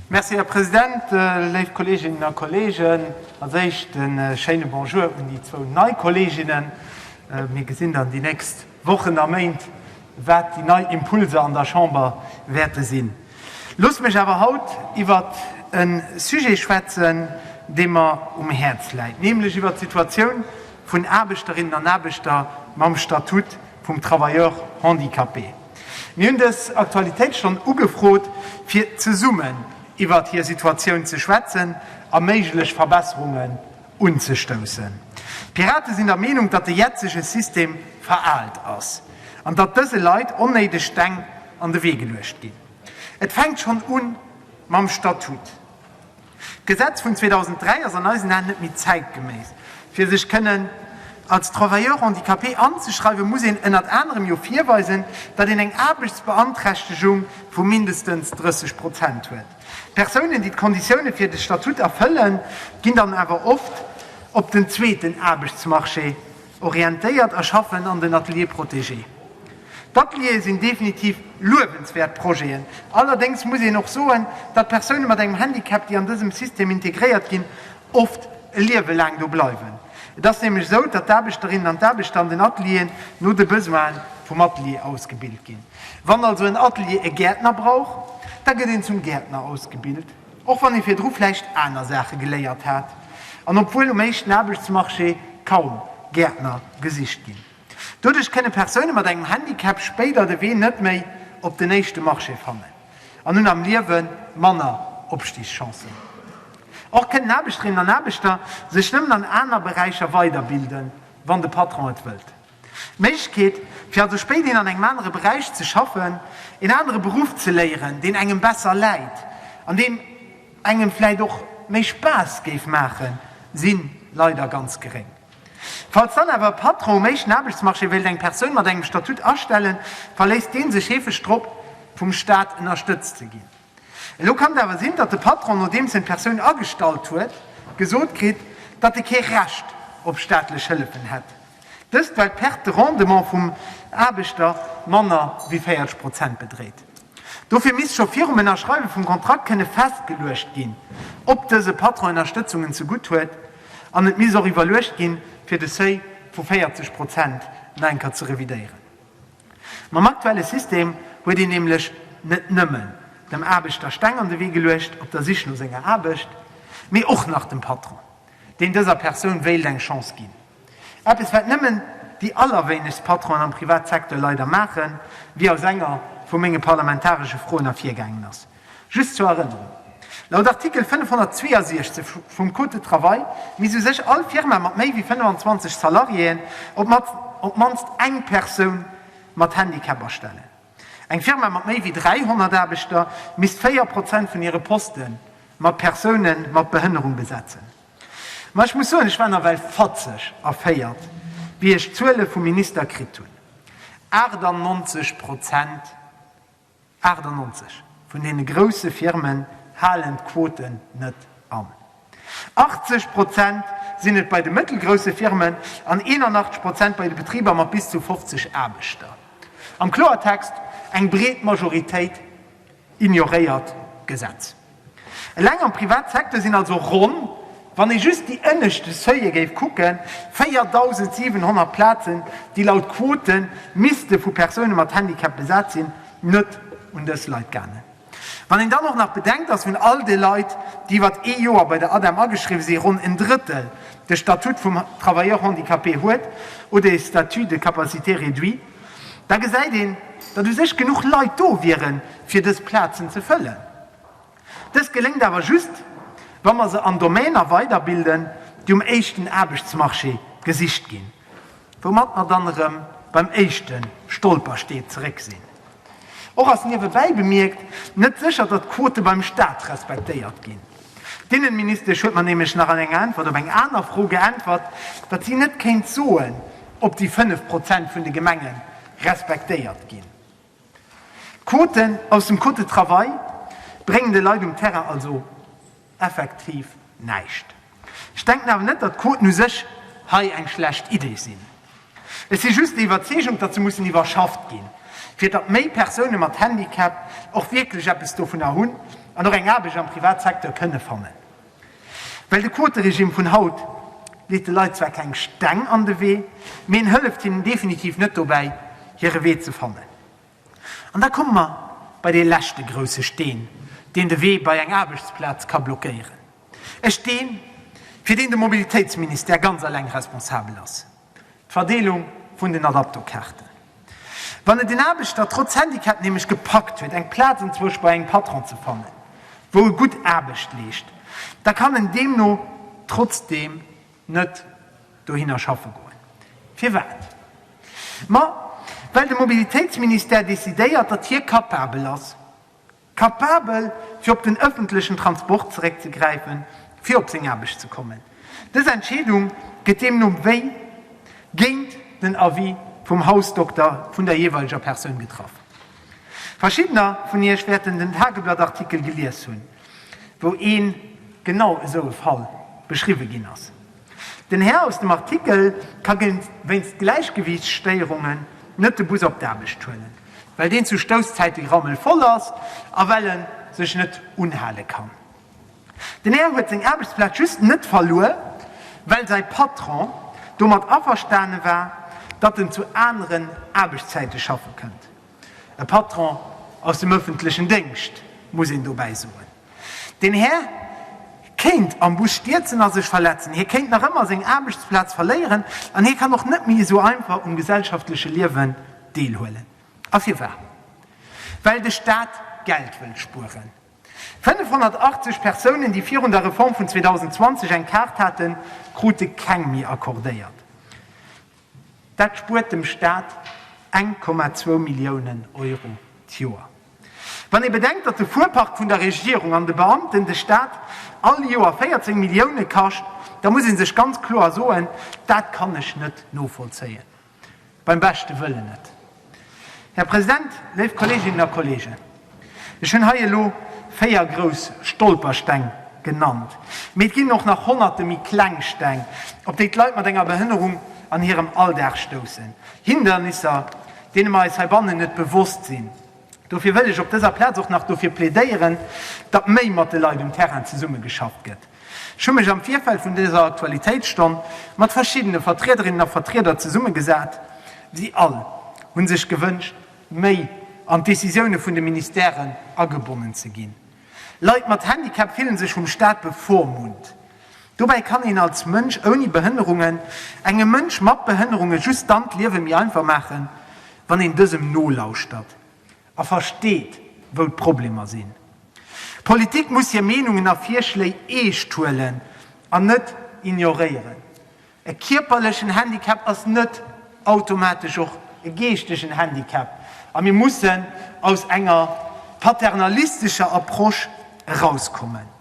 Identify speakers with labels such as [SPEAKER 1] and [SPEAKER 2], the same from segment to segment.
[SPEAKER 1] Merci, Här President. Léif Kolleeginnen a Kolleegen, als Éischt e schéine Bonjour un déi zwou nei Kolleeginnen. Mir gesinn dann déi nächst Wochen a Méint, wat déi nei Impulser an der Chamber wäerte sinn. Loosst mech awer haut iwwert e Sujet schwätzen, dee mer um Häerz läit, nämlech iwwert d'Situatioun vun Aarbechterinnen an Aarbechter mam Statut vum Travailleur handicapé. Mir hunn dës Aktualitéitsstonn ugefrot, fir zesummen iwwert hir Situatioun ze schwätzen a méiglech Verbesserungen unzestoussen. D'Pirate sinn der Meenung, datt de jetzege System veraalt ass an datt dëse Leit onnéideg Steng an de Wee geluecht ginn. Et fänkt schonn u mam Statut. D'Gesetz vun 2003 ass an eisen Aen net méi zäitgeméiss. Fir sech kënnen als Travailleur handicapé anzeschreiwen, muss een ënnert anerem jo virweisen, datt een eng Aarbechtsbeanträchtegung vu mindestens 30 Prozent huet. Persounen, déi d'Konditioune fir de Statut erfëllen, ginn dann awer oft op den zweeten Aarbechtsmarché Orientéiert a schaffen an den Ateliers protégés. D'Ateliere sinn definitiv luewenswäert Projeten. Allerdéngs muss een och soen, datt Persoune mat engem Handicap, déi an dësem System integréiert ginn, oft e Liewe laang do bleiwen. Et ass nämlech esou, datt d'Aarbechterinnen an d'Aarbechter an den Atelieren no de Besoine vum Atelier ausgebilt ginn. Wann also en Atelier e Gäertner brauch, da gëtt een zum Gäertner ausgebilt. Och wann ee virdru vläicht aner Saache geléiert hat an obwuel um éischten Aarbechtsmarché kaum Gäertner gesicht ginn. Doduerch kënne Persoune mat engem Handicap spéider de Wee net méi op den éischte Marché fannen an hunn am Liewe manner Opstigschancen. Och kënnen Aarbechterinnen an Aarbechter sech nëmmen an aner Beräicher weiderbilden, wann de Patron et wëllt. D'Méiglechkeet, fir also spéidehin an engem anere Beräich ze schaffen, een anere Beruff ze léieren, deen engem besser läit an deen engem vläicht och méi Spaass géif maachen, si leider ganz geréng. Falls dann awer e Patron um éischten Aarbechtsmarché wéilt eng Persoun mat engem Statut astellen, verléisst dee sech heefeg drop, vum Staat ënnerstëtzt ze ginn. Elo kann et awer sinn, datt de Patron, nodeems en d'Persoun agestallt huet, gesot kritt, datt e kee Recht op staatlech Hëllefen hätt. Dëst well d'Perte de rendement vum Aarbechter manner wéi 40 Prozent bedréit. Dofir misst scho virum Ënnerschreiwe vum Kontrakt kënne festgeluecht ginn, ob dëse Patron Ënnerstëtzungen ze gutt huet, an et misst och iwwerluecht ginn, fir de Seuil vu 40 Prozent nach eng Kéier ze revidéieren. Mam aktuelle System huet een nämlech net nëmmen dem Aarbechter Steng an de Wee geluecht op der Sich no senger Aarbecht, mee och nach dem Patron, deen dëser Persoun wéilt eng Chance ginn. Eppes wat nëmmen déi allerwéinegst Patronen am Privatsecteur leider maachen, wéi aus enger vu menge parlamentaresche Froen ervirgaangen ass. Just zur Erënnerung, Laut Artikel 562 vum Code de travail misst u sech all Firma mat méi wéi 25 Salariéen op d'mannst eng Persoun mat Handicap astellen. Eng Firma mat méi wéi 300 Aarbechter misst 4 Prozent vun hire Poste mat Persoune mat Behënnerung besetzen. Mä ech muss soen, ech war nawell fatzeg erféiert, wéi ech d'Zuele vum Minister kritt hunn. 98 Prozent, 98! vun deene grousse Firmen halen d'Quote net an. 80 Prozent sinn et bei de mëttelgrousse Firmen an 81 Prozent bei de Betriber mat bis zu 50 Aarbechter. Am Kloertext, Eng breet Majoritéit Ignoréiert d'Gesetz. Eleng am Privatsecteur sinn also ronn, wann ee just déi ënneschte Seuile géif kucken, 4.700 Plazen, déi laut Quote misste vu Persoune mat Handicap besat sinn, net un dës Leit gaangen. Wann een dann och nach bedenkt, dass vun all de Leit, déi iwwert ee Joer bei der ADEM ageschriwwe sinn, ronn en Drëttel de Statut vum Travailleur handicapé huet oder e Statut de capacité réduit, da gesäit een, datt u sech genuch Leit do wiere fir dës Plazen ze fëllen. Dëst geléngt awer just, wa mer se an Domainer weiderbilden, déi um éischten Aarbechtsmarché gesicht ginn, woumat mer dann erëm beim éischte Stolperstee zeréck sinn. Och ass niewebäi bemierkt net sécher, datt d'Quote beim Staat respektéiert ginn. D'Inneministesch huet mer nämlech nach an enger Äntwert op eng aner Fro geäntwert, datt si net kéint soen, ob déi 5 Prozent vun de Gemenge respektéiert ginn. D'Quoten aus dem Code de travail bréngen de Leit um Terrain also effektiv näischt. Ech denken awer net, datt d'Quoten u sech hei eng schlecht Idee sinn. Ech si just der Iwwerzeegung, datt se mussen iwwerschafft ginn, fir datt méi Persoune mat Handicap och wierklech eppes dovunner hunn an och eng Aarbecht am Privatsecteur kënne fannen. Well de Quoteregimm vun haut leet de Leit zwar keng Steng an de Wee, mee en hëlleft hinnen definitiv net dobäi, hire Wee ze fannen. An da komme mer bei dee leschte grousse Steen, deen de Wee bei eng Aarbechtsplaz ka blockéieren, e Steen, fir deen de Mobilitéitsministère ganz eleng responsabel ass, d'Verdeelung vun den Adapto-Kaarten. Wann et een Aarbechter trotz Handicap nämlech gepackt huet, eng Plaz enzwousch bei engem Patron ze fannen, wou e gutt Aarbecht leescht, da kann en deemno trotzdeem, Net dohinner schaffe goen. Firwat? Ma well de Mobilitéitsministère decidéiert, datt hie kapabel ass, kapabel, fir op den ëffentlechen Transport zeréckzegräifen, fir op seng Aarbecht ze kommen. Dës Entscheedung gëtt deemno wéi géint den Avis vum Hausdokter vun der jeeweileger Persoun getraff. Verschiddener vun iech wäerten den Tageblatt-Artikel gelies hunn, wou ee genau esou e Fall beschriwwe ginn ass. Den Här aus dem Artikel ka wéinst Gläichgewiichtsstéierungen net de Bus op d'Aarbecht huelen, well deen zu Stousszäite rammelvoll ass a well e sech net unhale kann. Den Här huet seng Aarbechtsplaz just net verluer, well säi Patron domat averstane war, datt en zu aneren Aarbechtszäite schaffe kënnt. E Patron aus dem ëffentlechen Déngscht, muss een dobäi soen. Den Här kéint am Bus stierzen a sech verletzen, hie kéint nach ëmmer seng Aarbechtsplaz verléieren an hie kann och net méi esou einfach um gesellschaftleche Liewen deelhuelen. A firwat? Well de Staat Geld wëll spueren. 580 Persounen, déi virun der Reform vun 2020 eng Kaart haten, krute keng méi accordéiert. Dat spuert dem Staat 1,2 Milliounen Euro d'Joer. Wann ee bedenkt, datt de Fuerpark vun der Regierung an de Beamten de Staat all Joer 14 Millioune kascht, da muss ee sech ganz kloer soen, Dat kann ech net novollzéien. Beim beschte Wëllen net. Här President, léif Kolleeginnen a Kolleegen, ech hunn hei elo véier grouss Stolpersteng genannt, mee et ginn och nach honnerte méi kleng Steng, op déi d'Leit mat enger Behënnerung an hirem Alldag stoussen, Hindernisser, deene mer eis heibannen net bewosst sinn. Dofir wëll ech op dëser Plaz och nach dofir plädéieren, datt méi mat de Leit um Terrain zesummegeschafft gëtt. Ech hu mech am Virfeld vun dëser Aktualitéitsstonn mat verschiddene Vertriederinnen a Vertrieder zesummegesat. Si all hu sech gewënscht, méi an d'Decisioune vun de Ministèren agebonnen ze ginn. Leit mat Handicap fillen sech vum Staat bevormunnt. Dobäi kann een als Mënsch ouni Behënnerungen engem Mënsch mat Behënnerunge just dann d'Liewe méi einfach maachen, wann een dësem nolauschtert a versteet, wou d'Problemer sinn. D'Politik muss hir Meenungen a Virschléi eescht huelen an net ignoréieren. E kierperlechen Handicap ass net automatesch och e geeschtegen Handicap a mir mussen aus enger paternalistescher Approche erauskommen.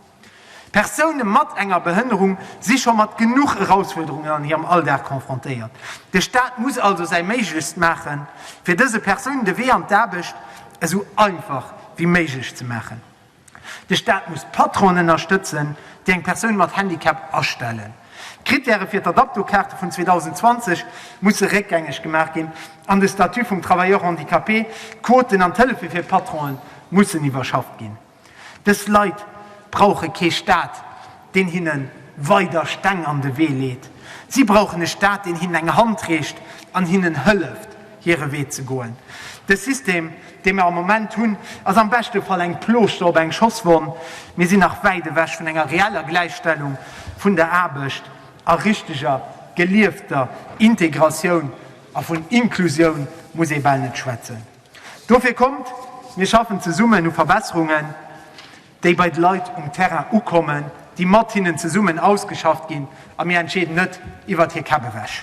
[SPEAKER 1] Persoune mat enger Behënnerung si scho mat genuch Erausfuerderungen an hirem Alldag confrontéiert. De Staat muss also säi Méiglechst maachen, fir dëse Persounen de Wee an d'Aarbecht esou einfach wéi méiglech ze maachen. De Staat muss d'Patronen ënnerstëtzen, déi eng Persoun mat Handicap astellen. D'Krittäre fir d'Adapto-Kaarte vun 2020 musse réckgängeg gemaach ginn an de Statut vum Travailleur handicapé, d'Quoten an d'Hëllefe fir d'Patronë mussen iwwerschafft ginn. Dës Leit brauche kee Staat, deen hinne weider Steng an de Wee leet. Si brauchen e Staat, deen hinnen eng Hand reecht an hinnen hëlleft. hire Wee ze goen. De System, dee mir am Moment hunn, ass am beschte Fall eng Plooschter op eng Schosswonn. Mir sinn nach wäit ewech vun enger reeller Gläichstellung vun der Aarbecht a richteger, geliefter Integratioun. A vun Inklusioun muss ee bal net schwätzen. Dofir kommt, mir schaffen zesummen u Verbesserungen, déi bei de Leit um Terrain ukommen, déi mat hinnen zesummen ausgeschafft ginn a mir entscheeden net iwwert hir Käpp ewech.